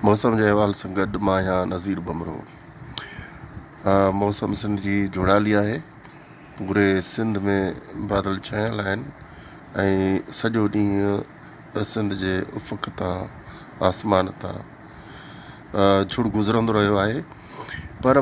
موسم جي احوال سان گڏ مان آهيان نظير بمرو موسم سنڌ جي جھڙالي آهي پوري سنڌ ۾ بادل ڇانيل آهن ۽ سڄو ڏينهن سنڌ جي افق تان آسمان تان جھڙ گذرندو رهيو آهي پر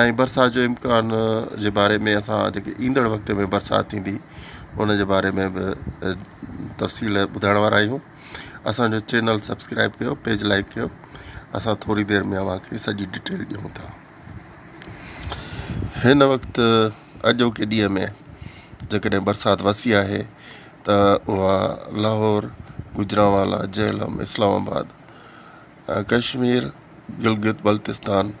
۽ برسات جو امڪان جي باري ۾ اسان جيڪي ايندڙ وقت ۾ برسات ٿيندي ان جي باري ۾ به تفصيل ٻڌائڻ وارا آهيون اسانجو چينل سبسڪرائب ڪيو پيج لائڪ ڪيو اسان ٿوري دير ۾ اوهان کي سڄي ڊيٽيل ڏيون ٿا هن وقت اڄوڪي ڏينهن ۾ جيڪڏهن برسات وسي آهي ته اها Lahore Gujranwala Jhelum Islamabad Kashmir, Gilgit Baltistan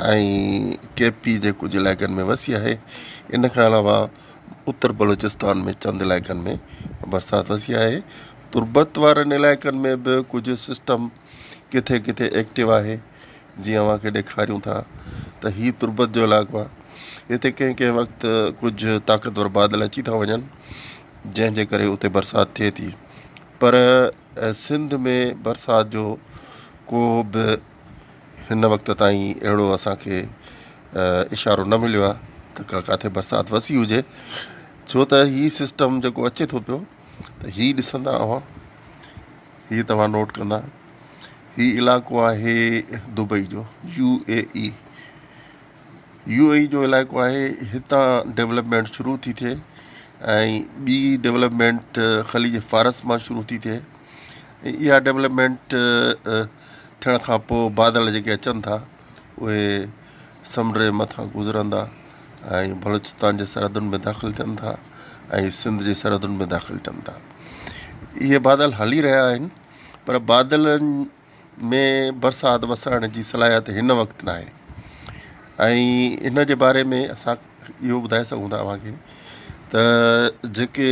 ۽ K P جي ڪجهه علائقن ۾ وسي آهي، ان کان علاوه اتر بلوچستان ۾ چند علائقن ۾ برسات وسي آهي، تربت وارن علائقن ۾ به ڪجهه سسٽم ڪٿي ڪٿي ايڪٽو آهي، جي اوهان کي ڏيکاريون ٿا ته هي تربت جو علائقو آهي، هتي ڪنهن ڪنهن وقت ڪجهه طاقتور بادل اچي ٿا وڃن، جنهن جي ڪري اتي برسات ٿئي ٿي پر. ۽ سنڌ ۾ برسات جو ڪو به هن وقت تائين اهڙو اسان کي اشارو نه مليو آهي ته ڪا ڪاٿي برسات وسي هجي ڇو ته هي سسٽم جيڪو اچي ٿو پيو ته هي ڏسندا اوهان هي توهان نوٽ ڪندا هي علاقو آهي دبئي جو U A E U A E جو علائقو آهي هتان ڊولپمينٽ شروع ٿي ٿئي ۽ ٻي ڊولپمينٽ خليج فارس مان شروع ٿي ٿئي اها ڊولپمينٽ ٿيڻ کان پوء بادل جيڪي اچن ٿا اهي سمنڊ جي مٿان گذرندا ۽ بلوچستان جي سرحدن ۾ داخل ٿين ٿا ۽ سنڌ جي سرحدن ۾ داخل ٿين ٿا اهي بادل هلي رهيا آهن پر بادلن ۾ برسات وسائڻ جي صلاحيت هن وقت ناهي ۽ ان جي باري ۾ اسان اهو ٻڌائي سگهون ٿا اوهان کي ته جيڪي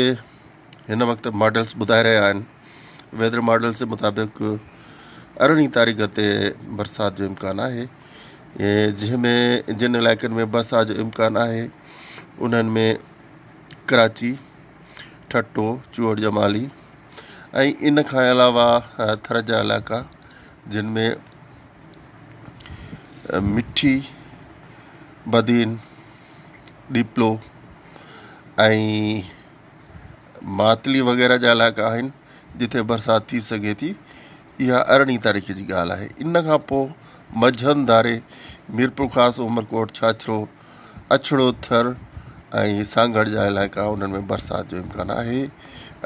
هن وقت ماڊلس ٻڌائي رهيا آهن ويدر ماڊلس جي مطابق ارڙهين تاريخ تي برسات جو امڪان آهي جنهن ۾ جن علائقن ۾ برسات جو امڪان آهي انهن ۾ ڪراچي ٺٽو، چوهڙ جمالي ۽ ان کان علاوه ٿر جا علائقا جن ۾ مٺي، بدين، ڏيپلو ۽ ماتلي وغيره جا علائقا آهن جتي برسات ٿي سگهي ٿي اها ارڙهين تاريخ جي ڳالهه آهي ان کان پوء مجهند ڌاري ميرپورخاص، عمرڪوٽ، ڇاڇرو، اڇڙو ٿر ۽ سانگهڙ جا علائقا انهن ۾ برسات جو امڪان آهي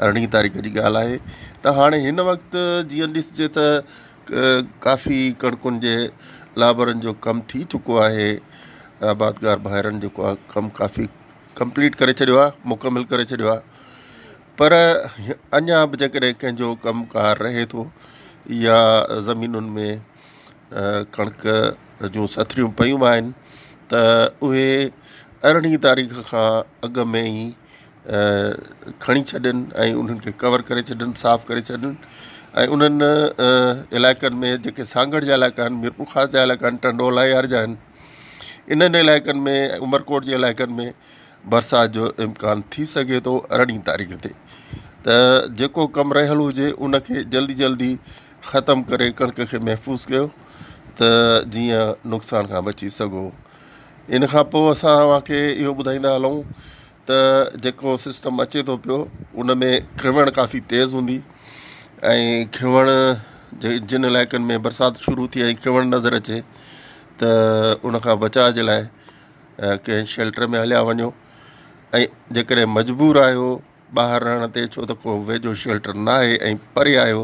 ارڙهين تاريخ جي ڳالهه آهي ته هاڻي هن وقت جيئن ڏسجي ته ڪافي ڪڻڪن جي لابرن جو ڪم ٿي چڪو آهي آبادگار ڀائرن جيڪو آهي ڪم ڪافي ڪمپليٽ ڪري ڇڏيو آهي مڪمل ڪري ڇڏيو آهي پر اڃا بھ جيڪڏهن ڪنهنجو ڪم ڪار رهي ٿو يا زمينن ۾ ڪڻڪ جون سٿريون پيون آهن ته اهي ارڙهين تاريخ کان اڳ ۾ ئي کڻي ڇڏن ۽ انهن کي ڪور ڪري ڇڏن صاف ڪري ڇڏن ۽ انهن علائقن ۾ جيڪي سانگهڙ جا علائقا آهن ميرپورخاص جا علائقا آهن ٽنڊو الاهيار جا آهن انهن علائقن ۾ عمرڪوٽ جي علائقن ۾ برسات جو امڪان ٿي سگهي ٿو ارڙهين تاريخ تي ته جيڪو ڪم رهيل هجي انکي جلدي جلدي ختم ڪري ڪڻڪ کي محفوظ ڪيو ته جيئن نقصان کان بچي سگهو ان کان پوء اسان اوهان کي اهو ٻڌائيندا هلون ته جيڪو سسٽم اچي ٿو پيو ان ۾ کيوڻ ڪافي تيز هوندي ۽ کيوڻ جن علائقن ۾ برسات شروع ٿي ۽ کيوڻ نظر اچي ته ان کان بچاء جي لاء ڪنهن شيلٽر ۾ هليا وڃو ۽ جيڪڏهن مجبور آهيو ٻاهر رهڻ تي ڇو ته ڪو ويجهو شيلٽر ناهي ۽ پري آهيو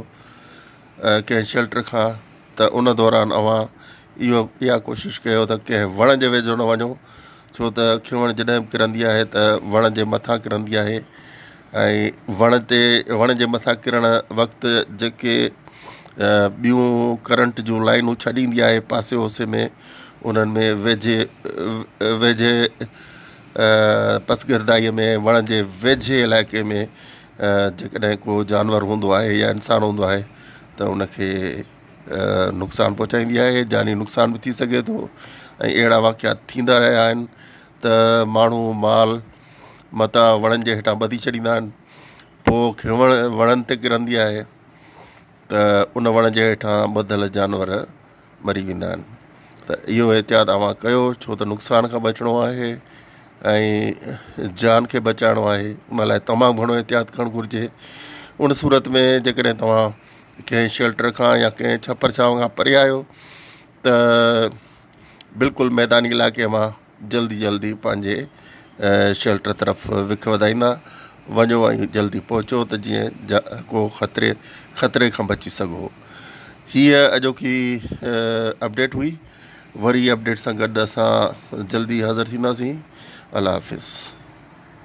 ڪنهن شيلٽر کان ته ان دوران اوهان اهو اها ڪوشش ڪيو ته ڪنهن وڻ جي ويجهو نه وڃو ڇو ته کيوڻ جڏهن به ڪرندي آهي ته وڻ جي مٿان ڪرندي آهي ۽ وڻ تي وڻ جي مٿان ڪرڻ وقت جيڪي ٻيون ڪرنٽ جون لائنون ڇڏيندي آهي پاسي اوسي ۾ انهن ۾ ويجهي ويجهي پسگردائيء ۾ وڻ جي ويجهي علائقي ۾ جيڪڏهن ڪو جانور هوندو آهي يا انسان هوندو آهي ته ان کي نقصان پهچائيندي آهي جاني نقصان به ٿي سگهي ٿو ۽ اهڙا واقعات ٿيندا رهيا آهن ته ماڻهو مال متاع وڻن جي هيٺان ٻڌي ڇڏيندا آهن پوء کينوڻ وڻن تي ڪرندي آهي ته ان وڻ جي هيٺان ٻڌل جانور مري ويندا آهن ته اهو احتياط اوهان ڪيو ڇو ته نقصان کان بچڻو آهي ۽ جان کي بچائڻو آهي ان لاء تمام گهڻو احتياط ڪرڻ گهرجي ان صورت ۾ جيڪڏهن توهان ڪنهن شيلٽر کان يا ڪنهن ڇپر ڇانو کان پري آهيو ته بلڪل ميداني علائقي مان جلدي جلدي پنهنجي شيلٽر طرف وک وڌائيندا وڃو ۽ جلدي پهچو ته جيئن ڪو خطري خطري کان بچي سگهو هيء اڄوڪي اپڊيٽ هئي وري اپڊيٽ سان گڏ اسان جلدي حاضر ٿينداسين الله حافظ